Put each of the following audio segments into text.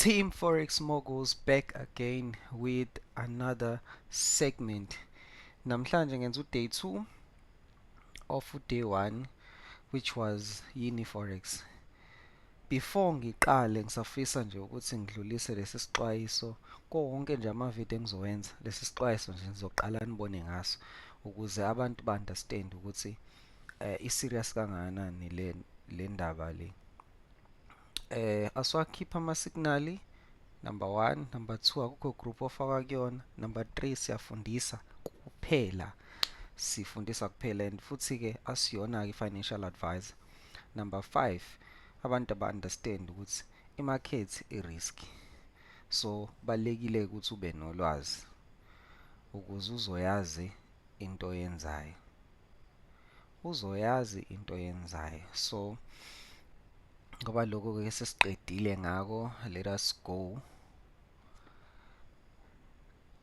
Team Forex Moguls back again with another segment. Namhlanje ngenza uday 2 of uday 1 which was yini forex. Before ngiqale ngisafisa nje ukuthi ngidlulise lesi sixwayiso konke nje ama video engizowenza lesi sixwayiso nje ngizoqala nibone ngaso ukuze abantu ba understand ukuthi uh, i serious kangakanani le le ndaba le. eh aswakhipha ama signal number 1 number 2 akukho group ofaka kuyona number 3 siyafundisa kuphela sifundisa kuphela and futhi ke asiyona ke financial advisor number 5 abantu aba understand ukuthi i market i risk so balekile ukuthi ube nolwazi ukuze uzoyazi into yenzayo uzoyazi into yenzayo so ngoba lokho ke sesiqedile ngako let us go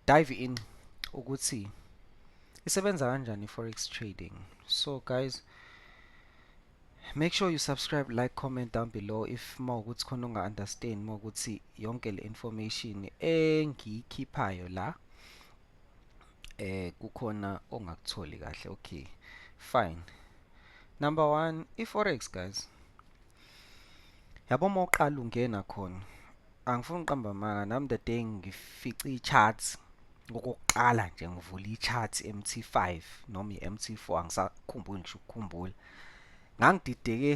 dive in ukuthi isebenza kanjani forex trading so guys make sure you subscribe like comment down below if uma ukuthi khona unga understand uma ukuthi yonke le information engiyikhiphayo la eh kukhona ongakutholi kahle okay fine number 1 iforex guys yabo mawuqala ungena khona angifuni uqamba manga nami the day ngifica i-chart okokuqala nje ngivula i-chart MT5 noma i-MT4 angisakhumbuli ngisho ukukhumbula ngangidideke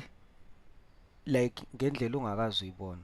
like ngendlela ongakazi uyibona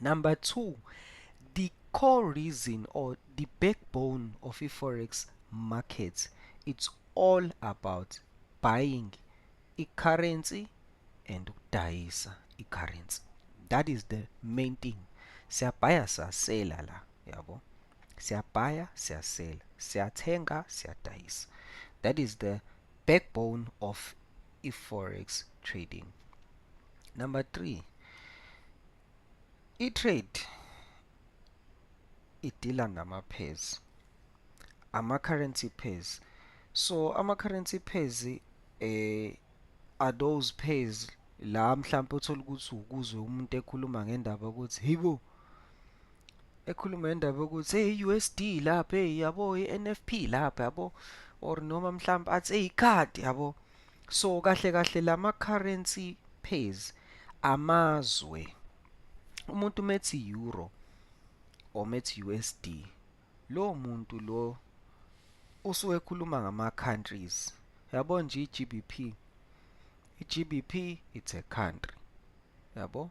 number two the core reason or the backbone of i-forex market it's all about buying i-currency and ukudayisa i-currency that is the main thing siyabhaya sasela la yabo siyabhaya siyasela siyathenga siyadayisa that is the backbone of i-forex trading number 3 i-trade idila ngama-pairs ama-currency pairs so ama-currency pairs eh are those pairs la mhlawumbe uthole ukuthi ukuzwe umuntu ekhuluma ngendaba ukuthi hibo ekhuluma indaba yokuthi hey USD lapha hey yabo iNFP lapha yabo or noma mhlawumbe athi hey card yabo so kahle kahle lama currency pairs amazwe umuntu methi euro or methi USD lo muntu lo usuke ekhuluma ngama countries yabo nje iGBP iGBP it's a country yabo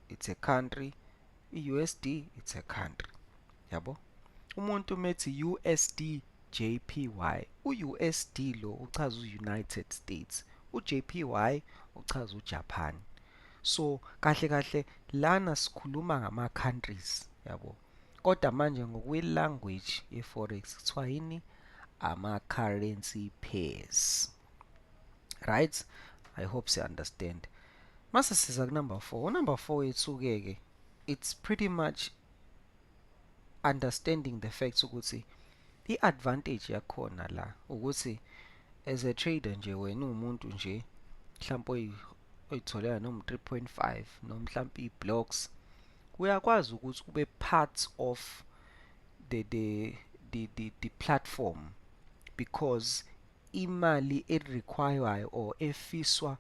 it's a country i-usd it's a country yabo umuntu methi usd jpy u-usd lo uchaza u-united states u-jpy uchaza ujapan so kahle kahle lana sikhuluma ngama-countries yabo kodwa manje ngokwe-language ye-forex kuthiwa yini ama-currency pairs right i hope si understand mase siza ku number 4 number 4 yethuke ke it's pretty much understanding the facts ukuthi i-advantage yakhona la ukuthi as a trader nje wena umuntu nje mhlawumbe oyitholela noma 3.5 noma mhlawumbe i-blocks uyakwazi ukuthi ube part of the the the the, the platform because imali e requirewayo or efiswa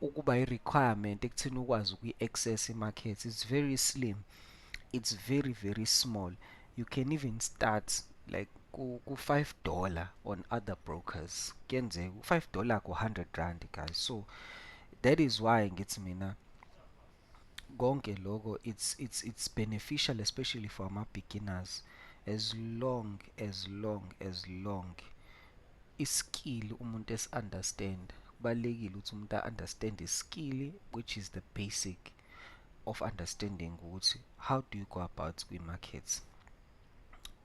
ukuba i requirement ekuthini ukwazi ukuyi access i market it's very slim it's very very small you can even start like ku 5 dollar on other brokers kuyenzeka u 5 dollar ku 100 rand guys so that is why ngithi mina konke loko it's it's it's beneficial especially for ama beginners as long as long as long iskill umuntu esi understand kubalekile ukuthi umuntu understand iskill which is the basic of understanding ukuthi how do you go about kwi markets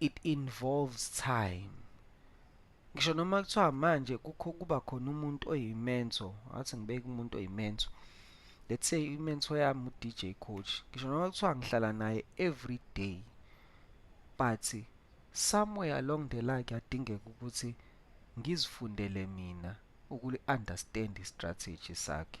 it involves time ngisho noma kuthiwa manje kukho kuba khona umuntu oyimenso ngathi ngibeke umuntu oyimenso let's say imenso yami uDJ coach ngisho noma kuthiwa ngihlala naye every day but somewhere along the line kuyadingeka ukuthi ngizifundele mina ukuli-understand i-strategy sakhe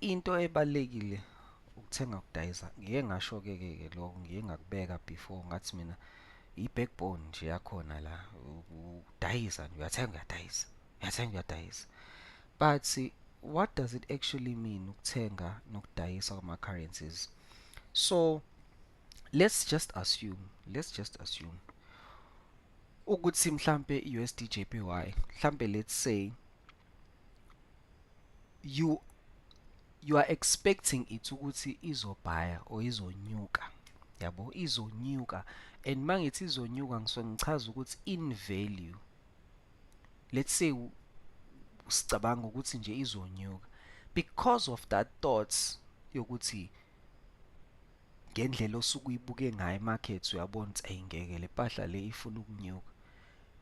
into ebalekile ukuthenga kudayisa ngike ngasho ke ke ke lokho ngike ngakubeka before ngathi mina i-backbone nje yakhona la udayisa nje uyathenga uyadayisa uyathenga uyadayisa but what does it actually mean ukuthenga nokudayisa kwama-currencies so let's just assume let's just assume ukuthi mhlampe i-USD JPY mhlampe let's say you you are expecting it ukuthi izobhaya or izonyuka yabo izonyuka and mangithi izonyuka ngisuke ngichaza ukuthi in value let's say sicabanga ukuthi nje izonyuka because of that thoughts yokuthi ngendlela osuke uyibuke ngayo imarket uyabona ukuthi ayingeke le mpahla le ifuna ukunyuka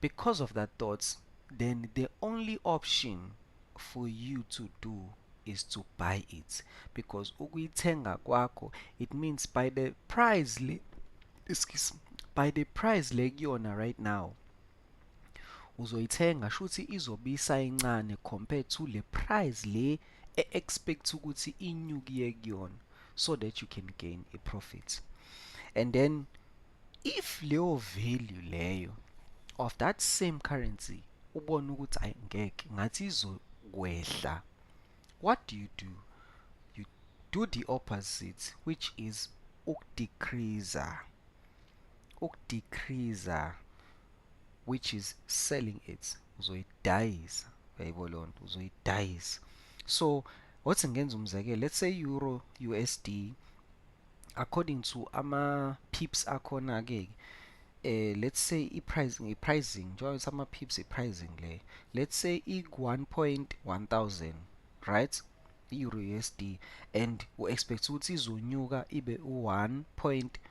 because of that thoughts then the only option for you to do is to buy it because ukuyithenga kwakho it means by the price le excuse by the price le kuyona right now uzoyithenga shuthi izobisa incane compared to le price le e-expect ukuthi inyukiye kuyona so that you can gain a profit and then if leyo value leyo of that same currency ubona ukuthi ayi ngeke ngathi izokwehla what do you do you do the opposite which is ukudecreaser ukudecreaser which is selling it uzoyidayisa uyayibo leyo nto uzoyidayisa so wathi ngenza umzekelo let's say euro usd according to ama pips akhona ke eh let's say i-pricing i-pricing njengoba sama pips i-pricing le let's say i-1.1000 right i-euro usd and u-expect ukuthi izonyuka ibe u-1.1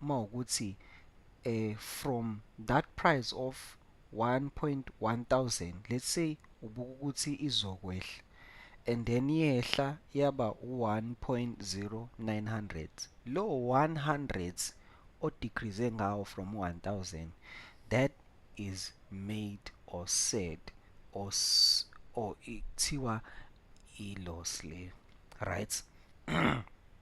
uma ukuthi eh from that price of 1.1000 let's say ubuka ukuthi izokwehla and then yehla yaba u-1.0900 lo 100 odecrease ngawo from 1000 that is made or said or or ikuthiwa i-loss le right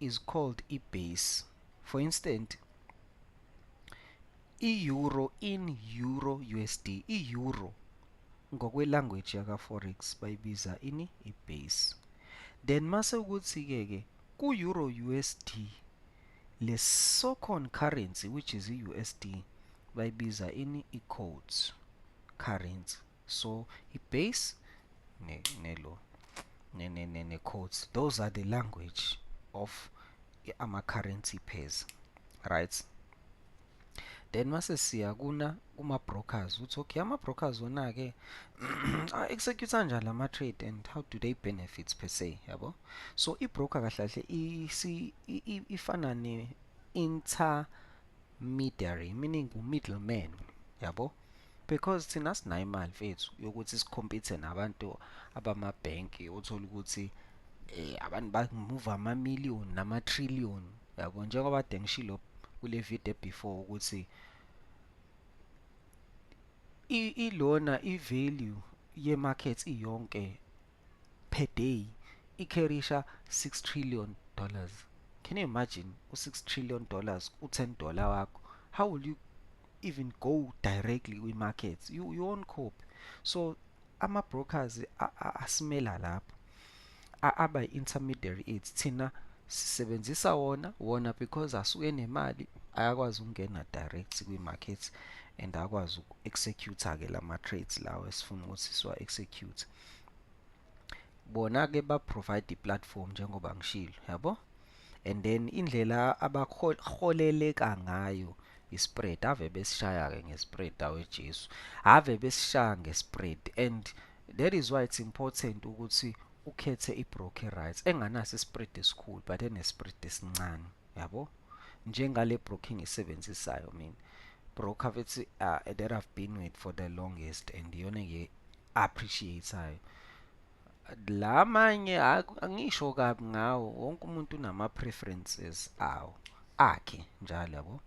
is called i-base. For instance, i-euro in euro USD, i-euro ngokwe-language yaka-forex bayibiza ini? I-base. Then mase ukuthi-ke ke ku-euro USD le socon currency which is i-USD bayibiza ini? I-codes currency. so i-base ne, ne lo ne, ne, ne, ne codes those are the language of ama-currency pairs right then mase siya kuna kuma-brokers uthi okay ama-brokers wona-ke a-execute kanjani lama-trade and how do they benefit per se yabo so i-broker kahle kahle ifana ne-intermediary meaning u-middleman yabo because thina sinayo imali mfethu yokuthi sikhompithe nabantu abamabhenki othola ukuthi eh abantu bamuva ama-million nama-trillion yabo njengoba kade ngishilo kule video before ukuthi ilona i-value ye-market iyonke per day ikherisha 6 trillion dollars can you imagine u-6 trillion dollars u-10 dollar wakho how will you even go directly kwi-markets you, you won't cope so ama-brokers asimela lapho aba intermediary aids thina sisebenzisa wona wona because asuke nemali ayakwazi ukungena direct kwi-market and akwazi uku-executor-ke lama-trades lawo esifuna ukuthi siwa-execute bona ke ba provide iplatform njengoba ngishilo yabo and then indlela abaholeleka ngayo ispread ave besishaya ke ngespread awe Jesu ave besishaya ngespread and that is why it's important ukuthi ukhethe ibroker rights enganaso ispread esikhulu but enespread esincane yabo njengale broker engisebenzisayo mina broker bethi uh, that I've been with for the longest and iyona appreciate-ayo la manye angisho kabi ngawo wonke umuntu unama-preferences awo akhe njalo yabo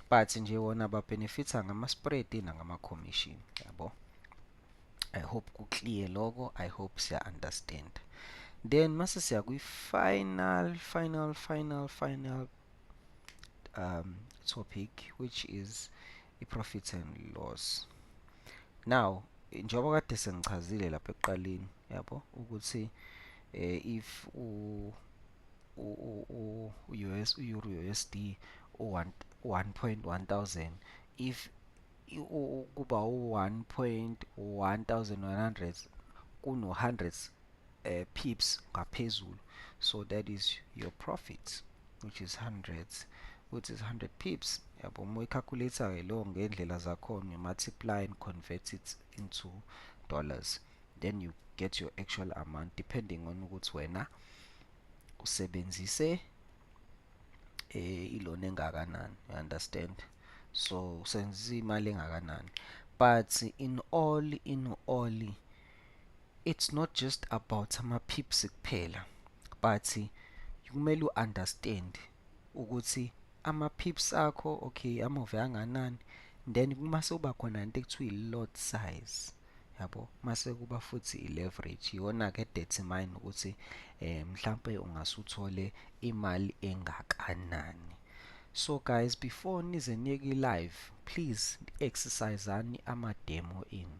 but nje wona babenefitha ngama-spread nangama-commission yabo i hope ku-clear loko i hope siya-understand then mase siya kwi-final final final final um, topic which is i-profit and loss now njengoba kade sengichazile lapha ekuqaleni yabo ukuthi eh, if u u-US u-Euro USD u-1.1000 if kuba u-1.1100 kuno-100 uh, pips ngaphezulu so that is your profit which is hundreds which is 100 pips yabo uma uyicalculator ke lo ngendlela zakhona you multiply and convert it into dollars then you get your actual amount depending on ukuthi wena usebenzise eh ilona engakanani you understand so senza imali engakanani but in all in all it's not just about ama-pips kuphela but kumele u-understand ukuthi ama-pips akho okay amove anganani then kuma sewuba khona into ekuthiwa i-lot size yabo mase kuba futhi i-leverage iyona ke determine ukuthi eh mhlambe ungase uthole imali engakanani so guys before nize niyeke live please exerciseani ama demo enu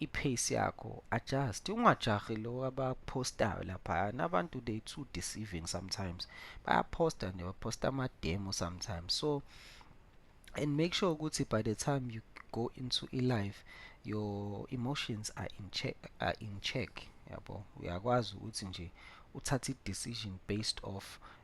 ipace yakho adjust ungajahi lo abapostayo laphayana abantu they too deceiving sometimes bayaposta nje baposta ama-demo sometimes so and make sure ukuthi by the time you go into i-life your emotions are in check, are in check yabo uyakwazi ukuthi nje uthathe i-decision based off